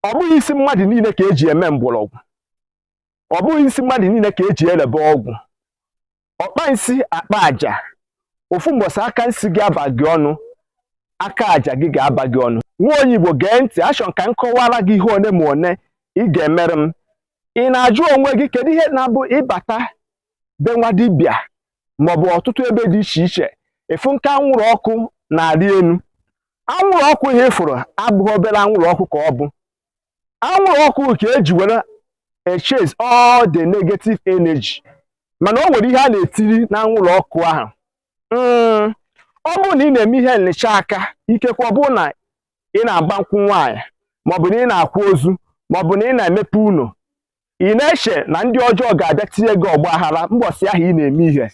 ọ bụghị isi mmadụ niile ka eji eme mgbọrọgwụ ọ bụghị isi mmadụ niile ka eji elebe ọgwụ ọkpa nsi akpa aja ofu mbọsị aka nsi gị aba gị ọnụ aka aja gị ga-aba gị ọnụ nwa onye igbo gee ntị achọ m ka m kọwara gị ihe one ma one ị ga-emere m ị na-ajụ onwe gị kedu ihe na-abụ ị bata be nwa dibịa maọbụ ọtụtụ ebe dị iche iche ị fụ nke anwụrụ ọkụ na-arị elu anwụrụ ọkụ ahụ ị fụrụ abụghị obere anwụrụ ọkụ ka ọ bụ anwụrụ ọkụ ka eji were echase all the negative energy mana o nwere ihe a na-etiri na anwụrụ ọkụ ahụ hmm, ọ bụrụ na ị na-eme ihe nlacha aka ikekwe ọ bụrụ na ị na-agba nkwụ nwaanyị maọbụ na ị na-akwa ozu maọbụ na ị na-emepe ụlọ ị na-eche na ndị ọjọọ ga-abịa tinye gị ọgba aghara mbọsị ahụ ị na-eme ihe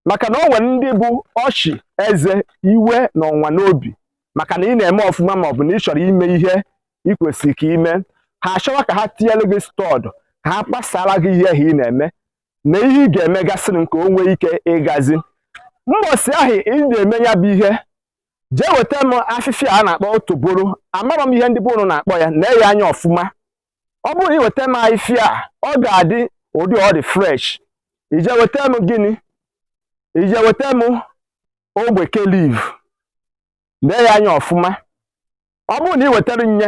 maka na o nwere ndị bụ ọchị eze iwe na ọnụma n'obi maka na ị na-eme ọfụma ma ọ bụ na ị chọrọ ime ihe ị kwesịrị ka ime ha achọwa ka ha tinyere gị stud ka ha kpasara gị ihe ahụ ị na-eme na ihe ị ga-emegasịrị nke o nwee ike ịgazi mbọsị ahụ ị na-eme ya bụ ihe jee weta m afịfịa a na-akpọ otoboro amarọ m ihe ndị be unu na-akpọ ya nee ya anya ọfụma ọ bụrụ na ị weta m afịfịa a ọ ga-adị ụdị ọ dị fresh i jee weta m gịnị i jee weta m ogbeke leaf lee ya anya ọfụma ọ bụrụ na ị wetara nye